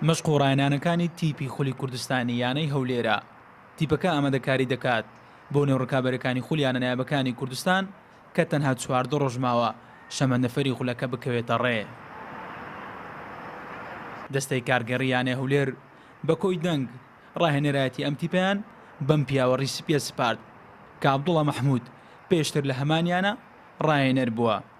مەشق و ڕاهێنانەکانی تیپی خولی کوردستانی یانەی هەولێرە تیپەکە ئامادەکاری دەکات بۆ نێو ڕکابەرەکانی خول یانە نایابەکانی کوردستان کە تەنها چواردە ڕۆژ ماوە شەمەندەفەری خولەکە بکەوێتە ڕێ. دەستەی کارگێڕی یانەی هەولێر بە کۆی دەنگ ڕاهێنەرایەتی ئەم تیپیان بەم پیاوە ڕیسپیە سپارد کە عەبدوڵا مەحمود پێشتر لە هەمان یانە ڕاهێنەر بووە.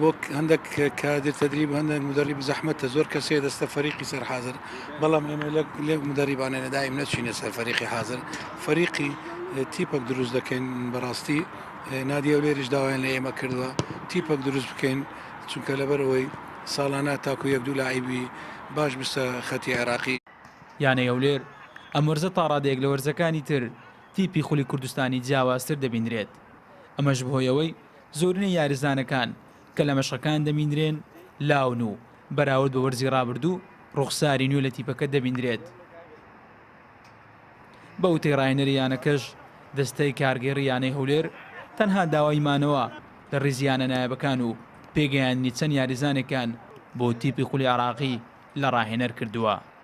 بۆ هەندێک کادر تدریب هەندێک مدرب زەحمەتە زۆر کەسێ دەستە فەریقی سەر حاضر بەڵام ئێمە لێ مدربانێنە دایم نەچینە سەر فەریقی حاضر فەریقی تیپەک دروست دەکەین بەڕاستی نادیە و لێریش داوایان لە ئێمە کردووە تیپەک دروست بکەین چونکە لەبەر ئەوەی ساڵانە تاکو یەک دوو لایبی باش بسە خەتی عێراقی یانەی هەولێر ئەم وەرزە تا ڕادەیەک لە وەرزەکانی تر تیپی خولی کوردستانی جیاوازتر دەبینرێت ئەمەش بەهۆی ئەوەی زۆرینەی یاریزانەکان کە لە مەشقەکان دەبینرێن لاون و بەراورد بە وەرزی رابردوو روخساری نوێ لە تیپەکە دەبینرێت. بە وتەی راهێنەری یانەکەش دەستەی کارگێڕی یانەی هەولێر تەنها داوای مانەوە لە ریزی یانە نایابەکان و پێگەیاندنی چەند یاریزانێکان بۆ تیپی خولی عێراقی لە راهێنەر کردووە.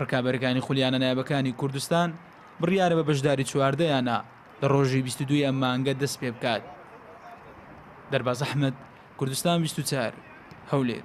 ڕکابەرەکانی خولیانە نایابەکانی کوردستان بڕیارە بە بەشداری چواردە یانە لە ڕۆژی 22 ئەم مانگە دەست پێ بکات دەرباز ئەحمد کوردستان 24 هەولێر